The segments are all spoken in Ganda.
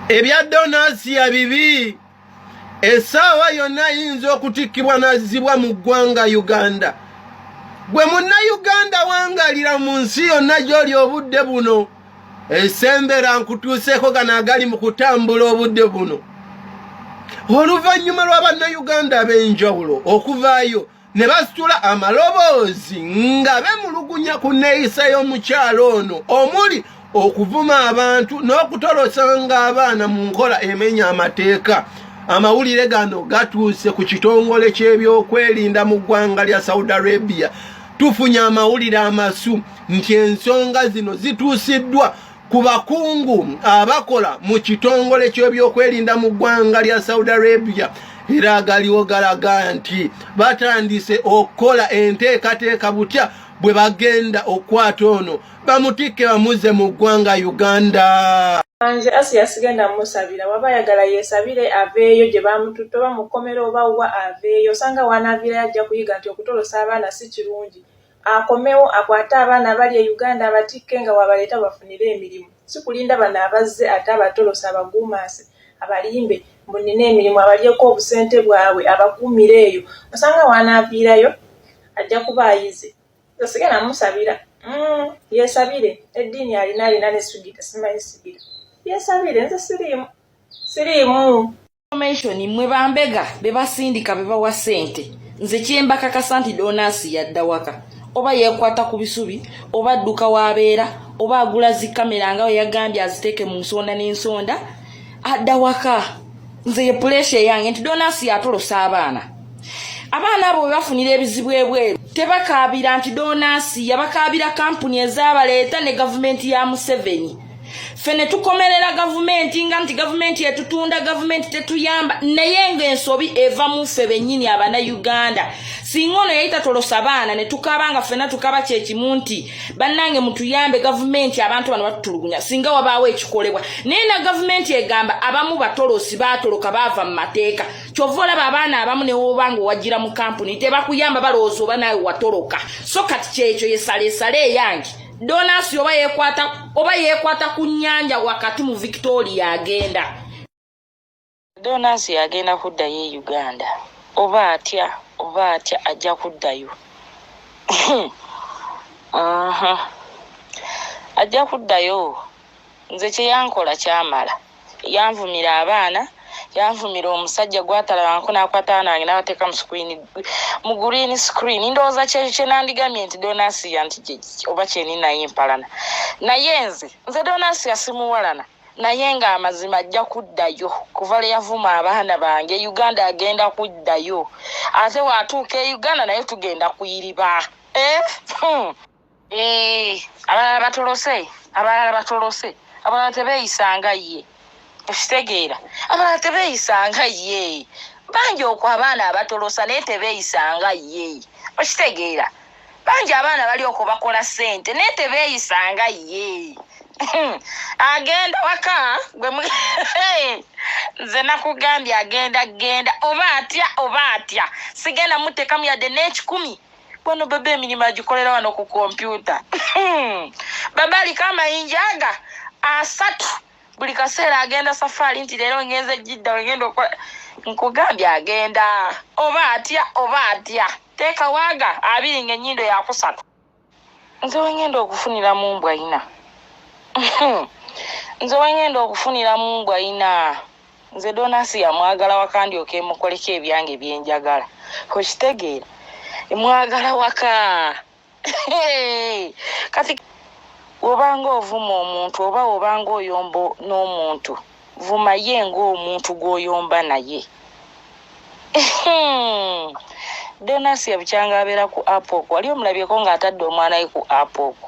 ebya donasiya bibi esaawa yonna ayinza okutikkibwa n'azzibwa mu ggwanga uganda gwe munna uganda wangalira mu nsi yonna gy'oli obudde buno ensembera nkutuuseeko gano agali mu kutambula obudde buno oluvannyuma lwa bannayuganda ab'enjawulo okuvaayo ne basitula amaloboozi nga bemulugunya ku nneeyisa y'omukyalo ono omuli okuvuma abantu n'okutolosanga abaana mu nkola emenya amateeka amawulire gano gatuuse ku kitongole ky'ebyokwerinda mu ggwanga lya saudi arabia Tufunye amawulire amasu nti ensonga zino zituusiddwa ku bakungu abakola mu kitongole ky'ebyokwerinda mu ggwanga lya Saudi Arabia era agaliwo galaga nti batandise okukola enteekateeka butya bwe bagenda okukwata ono bamutikke bamuzze mu ggwanga uganda nze asi yasigenda musabira waba ayagala yesabire aveeyo gye bamututte oba mukomera oba wa aveeyo osanga wanaavira yajja kuyiga nti okutolosa abaana si kirungi akomewo akwate abaana abali e uganda abatikke nga wabaleeta bafunire emirimu si kulinda bano abazze ate abatolosa abaguumaase abalimbe mbu nina emirimu abalyeko obusente bwabwe abakuumire eyo osanga wanaaviirayo ajja kuba ayize tosigala musabira mm, yesabire eddiini alina alina nesugira simanyi sigira yesabire nze siriimu siriimu information mwe bambega bebasindika bebawa sente nze kyembakakasa nti donasi yadda waka oba yekwata ku bisubi oba adduka wabeera oba agula zikamera nga weyagambye aziteeke mu nsonda n'ensonda adda waka nze ye pulesia eyange nti donasi yatolosa abaana abaana abo bebafunira ebizibu ebweru tebakaabira nti donasi yabakaabira kampuni ezabaleeta ne gavumenti ya museveni fe ne tukomerera gavumenti nga nti gavumenti etutunda gavumenti tetuyamba naye ngaensobi eva mu ffe bennyini abana uganda singa ono yali tatolosa baana ne tukaaba nga ffena tukaba kyekimu nti bannange mutuyambe gavumenti abantu bano batutulugunya singa wabaawo ekikolebwa naye na gavumenti egamba abamu batolosi baatoloka baava mu mateeka kyova olaba abaana abamu newoba nga owajira mu kampuni tebakuyamba balowooza oba naawe watoloka so kati kyekyo yesaleesale eyange donasi oba yekwata oba yekwata ku nyanja wakati mu victoria agenda donasi agenda kuddayo e uganda oba atya oba atya ajja kuddayo ajja kuddayo nze kyeyankola kyamala yanvumira abaana yanvumira omusajja gwatalabanko nakwata abaana bange nabateeka mu green screen ndowooza kyenandigamye nti donasiya nti oba kyeninaye empalana naye nze nze donasiya simuwalana naye nga amazima ajja kuddayo kuva lwe yavuma abaana bange uganda agenda kuddayo ate watuuka e uganda naye tugenda kuyiriba eh? hmm. Eh, abalala batolose abalala batolose abalala tebeeyisanga ye okitegeera abalala tebeeyisanga ye bangi oku abaana abatolosa naye tebeeyisanga ye okitegeera bangi abaana bali okwo bakola ssente naye tebeeyisanga ye hmm. agenda waka gwe nze nakugambye agenda genda oba atya oba atya sigenda mutekamu yadde n'ekikumi Kwano bebe emirimu agikolera wano ku kompyuta baba aliko amayinja aga asatu buli kaseera agenda safaari nti leero ngenze jidda wegenda okola nkugambye agenda oba atya oba atya teeka waaga abiri nga enyindo yakusatu nze wengenda okufunira mu mbwa ina nze wengenda okufunira mu mbwa ina nze donasi yamwagala waka ndyoka emukoleko ebyange byenjagala okitegeera mwagala waka kati wobanga ovuma omuntu oba wobanga oyomba n'omuntu vuma ye ngaomuntu gwoyomba naye donasi yabukyanga abeera ku app oku wali omulabyeko ng'atadde omwana we ku app oku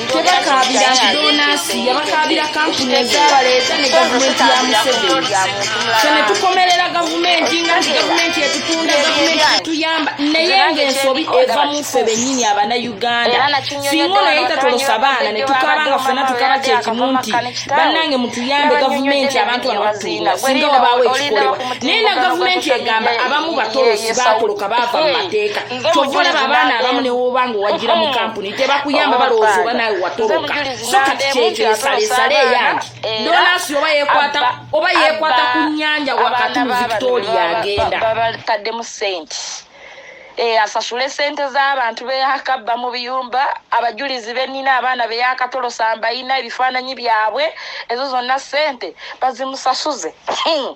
tebakaabira nti donaasi yabakaabira kampuni ezabaleeta ne gavumenti ya museveni fe ne tukomerera gavumenti nga nti gavumenti etutunda gavumenti etuyamba naye ngaensobi eva mu ffe bennyini abana uganda singa ono yayita tolosa baana ne tukaaba nga ffena tukaba kyekimu nti bannange mutuyambe gavumenti abantu bano batuula singa wabaawo ekikolebwa naye na gavumenti egamba abamu batolosi batoloka baava mu mateeka kyova olaba abaana abamu newobanga owagira mu kampuni tebakuyamba oh, balowooza oba naawe watoloka so kati kyekyesaleesale eyange donasi oba yekwata oba yekwata ku nyanja wakati mu victoria agenda babataddemu sente eh, asasule sente z'abantu beyakabba mu biyumba abajulizi benina abaana beyakatolosa mbayina ebifaananyi byabwe ezo zonna sente bazimusasuze hmm.